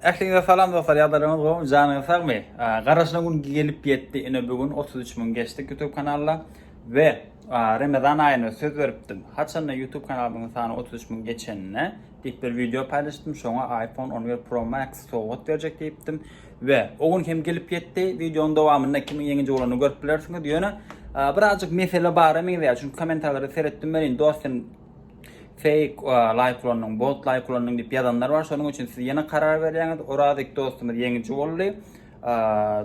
Ähliňize salam dostlar, ýagdaýlaryňyz gowmy, janyňyz sagmy? Garaşylan gün gelip ýetdi, ine bu gün 33 müň geçdik YouTube kanalda we Ramazan aýyna söz beripdim. Haçanda YouTube kanalymyň sany 33 müň geçende diýip bir wideo paýlaşdym, şoňa iPhone 11 Pro Max sowgat berjek diýipdim we o gün hem gelip ýetdi. Wideonyň dowamynda kimiň ýeňiji bolanyny görüp bilersiňiz. Ýöne birazjyk mesele bara meňzeýär, çünki kommentariýalary seretdim welin dostum Fake like ulandyň, bot like ulandyň diýip ýazanlar bar. Şonuň üçin siz ýene karar berýäňiz. Orazik dostumyz ýeňiji boldy.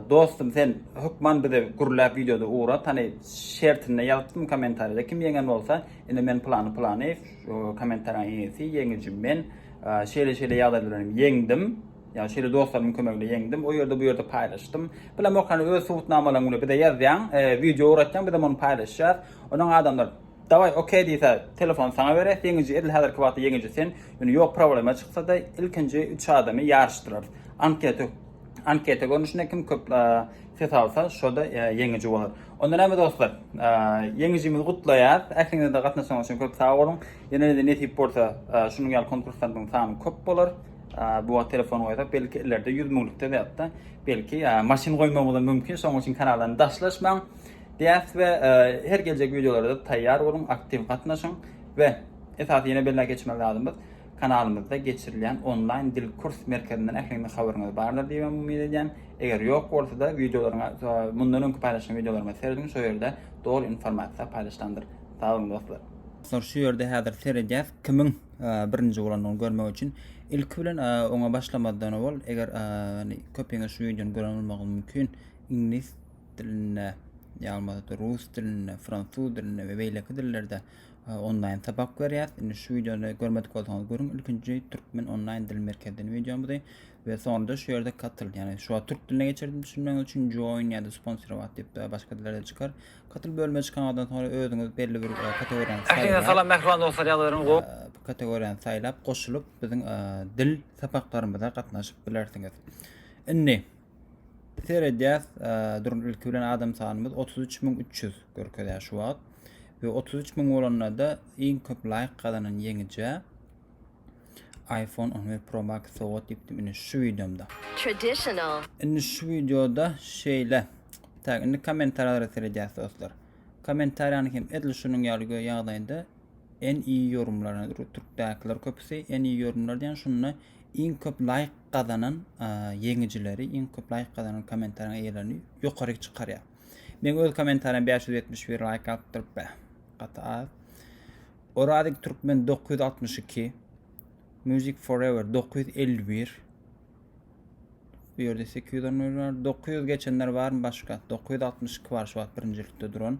Dostum sen hökman bize gürläp videoda ugra. Tany şertinde ýazypdym kommentariýada kim ýeňen bolsa, indi men plany plany kommentariýanyň eýesi ýeňiji men. Şeýle şeýle ýagdaýlar bilen ýeňdim. Ýa şeýle dostlarymyň kömegi bilen ýeňdim. O ýerde bu ýerde paýlaşdym. Bilemok hany öz subutnamalaryňy bize ýazýaň, e, video ugratýaň, biz hem ony paýlaşýas. Onuň adamlar Daway ok diýse telefony saňa beres ýeňiji edil häzirki wagtda ýeňiji sen ýöne ýok problema çyksada ilkinji üç adamy ýaryşdyrarys anketa anketa görnüşinde kim köp ses alsa şoda ýeňiji bolar onda näme dostlar ýeňijimizi gutlaýas ähliňize de gatnaşan üçin köp sag boluň ýene de nesip bolsa şunuň ýaly konkurslaryň sany köp bolar bu wagt telefon goýsak belki ileride ýüz müňlükde zätde belki maşyn goýmagymyz mümkin şonuň üçin kanaldan daşlaşmaň Diýäs we her geljek wideolarda taýýar boluň, aktiw gatnaşyň we esasy ýene belläp geçmeli zadymyz kanalymyzda geçirilýän onlaýn dil kurs merkezinden ähliňiziň habaryňyz bardyr diýip hem umyt edýän. Eger ýok bolsa-da wideolaryňa mundan öňki paýlaşan wideolaryma serediň şo ýerde doly informasiýa paýlaşylandyr. Sag boluň dostlar. Dostlar şu ýerde häzir seredýäs kimiň birinji bolandygyny görmek üçin ilki bilen oňa başlamazdan owal eger köpiňiz şu wideony gören bolmagyňyz mümkin iňlis dilinde, ýalmazda rus dilinde, fransuz dilinde we beýleki dillerde e, onlaýn sapak berýäs. Indi şu wideony görmedik bolsaňyz görüň. Ilkinji türkmen onlaýn dil merkezden wideomyzy we soňra şu ýerde katyl, ýagny şu wagt türk diline geçirdim düşünmegiňiz üçin join ýa-da sponsirowat diýip de başga dillerde çykar. Katyl bölüme çykandan soňra özüňiz belli bir e, kategoriýany saýlaýar. Salam mähriban dostlar, ýagdaýlaryňyz gowy. E, bu kategoriýany saýlap goşulyp biziň dil sapaklarymyza gatnaşyp bilersiňiz. Indi Seredýäs, durun ilki bilen adam sanymyz 33300 görkezýär şu wagt. We 33000 bolanda iň köp laýk gazanan ýeňijä iPhone 11 Pro Max sowgat diýipdim indi şu wideomda. Traditional. Indi şu wideoda şeýle. Tak, indi kommentariýalary seredýäs dostlar. Kommentariýany hem edil şunuň ýaly ýagdaýda en iyi yorumlarına türkdäkiler köpüsi en iyi yorumlar diýen şunda Iň köp laýk gazanan ýeňijileri, iň köp laýk gazanan kommentariýaň eýelerini ýokaryk çykarýar. Meň öz kommentariýam 571 laýk alypdyr be. Gaty az. Orazik Türkmen 962 Music Forever 951 Bu ýerde 800 onur bar. 900 geçenler barmy başga? 962 bar şu wagt birinjilikde duran.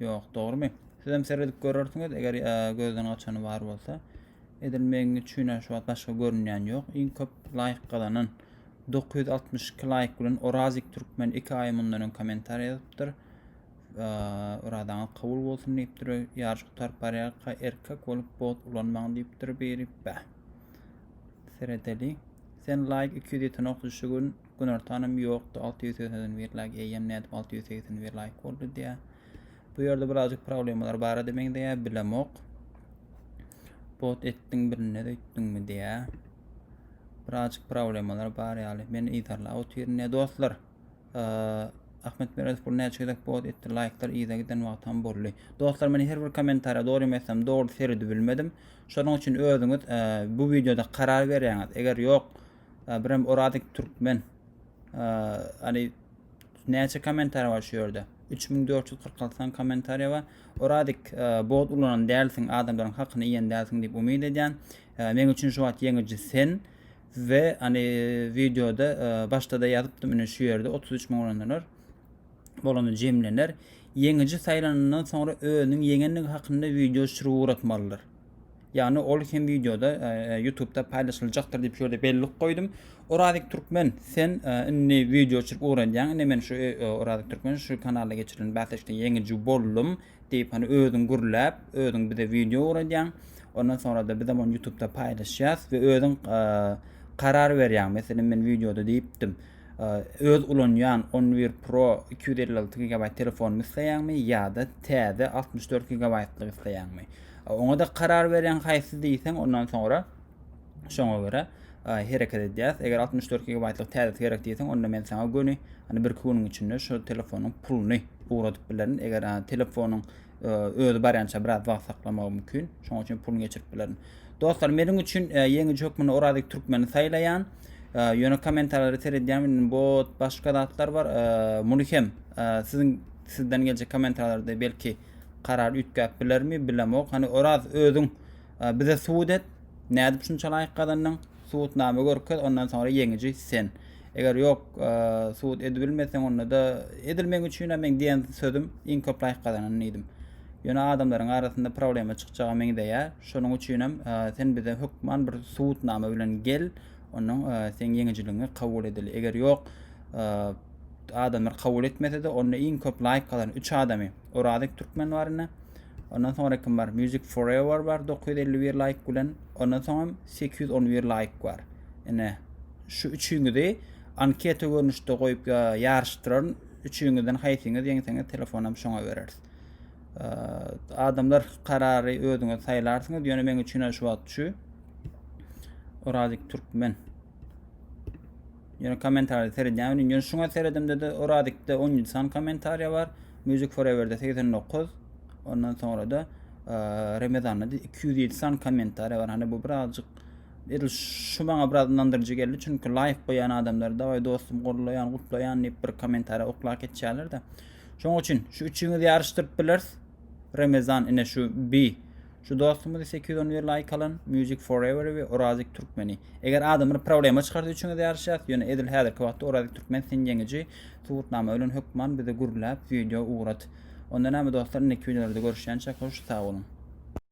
Ýok, dogrumy? Siz hem seredip görersiňiz, eger e, gözden gaçany bar bolsa. Edil meň üçin hem şu wagt başga görünýän ýok. Iň köp laýk gazanan 962 laýk bilen Orazik Türkmen 2 aý mundan öň kommentariý ýazypdyr. Yradaňyz kabul bolsun diýipdir. Ýaryş gutaryp barýarka erkek bolup bot ulanmaň diýipdir biri. Bä. Seredeli. Sen laýk 200 ýeten ok düşügün Günortanam ýokdy, 680 bir laýk, eýýäm nädip 680 bir laýk boldy diýä. Bu ýerde birazjyk problemalar bar edi meňzeýä, bilemok. Bot etdiň birine öýtdüňmi diýä. Birazjyk problemalar bar ýaly. Men yzarlap otyryn diýä dostlar. Ahmet Meredow bu näçe gezek bot etdi, laýklar yza giden wagtam boldy. Dostlar, men her bir kommentariýa dogry ýemesem dogry seredip bilmedim. Şonuň üçin özüňiz bu wideoda karar berýäňiz. Eger ýok, Birem Oradik Türkmen. Ali näçe kommentariýa bar şu ýerde? 3446 san kommentariýa bar. Oradik bot ulanan dälsiň, adamlaryň hakyny iýen dälsiň diýip umyt edýän. Meň üçin şu wagt ýeňiji sen we ani wideoda başda-da ýazypdym, ine şu ýerde 33 müň ulananlar bolanda jemlener. Ýeňiji saýlanandan soňra özüniň ýeňendigi hakynda wideo çyryp ugratmalydyr. Yani ol hem videoda e, e, YouTube'da paylaşılacaktır diýip şöyle bellik goýdum. Orazik Türkmen sen e, indi video çyryp öwrenýäň. Indi men şu e, e, Orazik Türkmen şu kanalda geçirilen bäsleşikde ýeňiji boldum diýip hani özüň gürläp, özüň bize video öwredýäň. Ondan sonra da biz onu YouTube'da paylaşýas we özüň e, karar berýäň. Meselem men videoda diýipdim. Öz ulanýan on bir pro iki ýüz elli alty gigabaýt telefonymy isleýäňmi ýa-da täze altmyş dört gigabaýtlygy isleýäňmi? Oňa-da karar berýäň haýsy diýseň, ondan soňra şoňa görä hereket edýäs. Eger altmyş dört gigabaýtlyk täzesi gerek diýseň, onda men saňa göni, ýani birki günüň içinde şu telefonyň puluny ugradyp bilerin. Eger telefonyň Özi barýança biraz wagt saklamagy mümkin. Şonuň üçin puluny geçirip bilerin. Dostlar, meniň üçin e, ýeňiji hökmünde Orazik Türkmeni saýlaýan. E, ýöne kommentarlary seredýän men bot başga zatlar bar. E, muny hem e, siziň sizden geljek kommentarlarda belki karar üýtgäp bilermi, bilemok. Hani Oraz özüň e, bize subut et. Nädip şunça laýk gazandyň? subutnama görkez ondan soňra ýeňiji sen. Eger ýok subut edibilmeseň onda da edil meň üçin hem meň diýen sözüm iň köp laýk gazanan diýdim. Ýöne adamlaryň arasynda problema çykjaga meňzeýär. Şonuň üçin hem sen bize hökman bir subutnama bilen gel. Onuň sen ýeňijiligiňi kabul edeli. Eger ýok adamlar kabul etmese-de onda iň köp laýk gazanan 3 adamy Orazik Türkmen bar indi. Ondan sonra kim bar? Music Forever bar 951 like bilen. Ondan sonra 811 like bar. Ine şu üçüňizi anketa görnüşde koyup ya yarıştıraryn. Üçüňizden haýsyňyz ýeňseňiz telefonam şoňa bereris. Adamlar karary özüňiz saýlarsyňyz. Ýöne meň üçin şu wagt şu. Orazik Türkmen. Ýöne kommentariýa seredýän welin ýöne şuňa seredimde-de Oradikde 17 san kommentariýa bar. Music Forever-de 89. Ondan soňra da Remezanda 207 san kommentariýa bar. Hani bu birazjyk edil şu maňa biraz ynandyryjy geldi. Çünki laýk goýan adamlar da oý dostum gollaýan, gutlaýan diýip bir kommentariýa oklap geçýärler-de. Şoň üçin şu üçüňizi ýaryşdyryp bileris. Remezan ine şu bi Şu dostumyzy sekiz ýüz on bir laýk alan Music Forever we Orazik Türkmeni. Eger adam bir problema çykarsa üçüňiz ýaryşýas, ýöne edil häzirki wagtda Orazik Türkmen sen ýeňiji, subutnama bilen hökman bizi gürläp video ugrat. Onda näme dostlar indiki videolarda görüşýänçäk hoş sag boluň.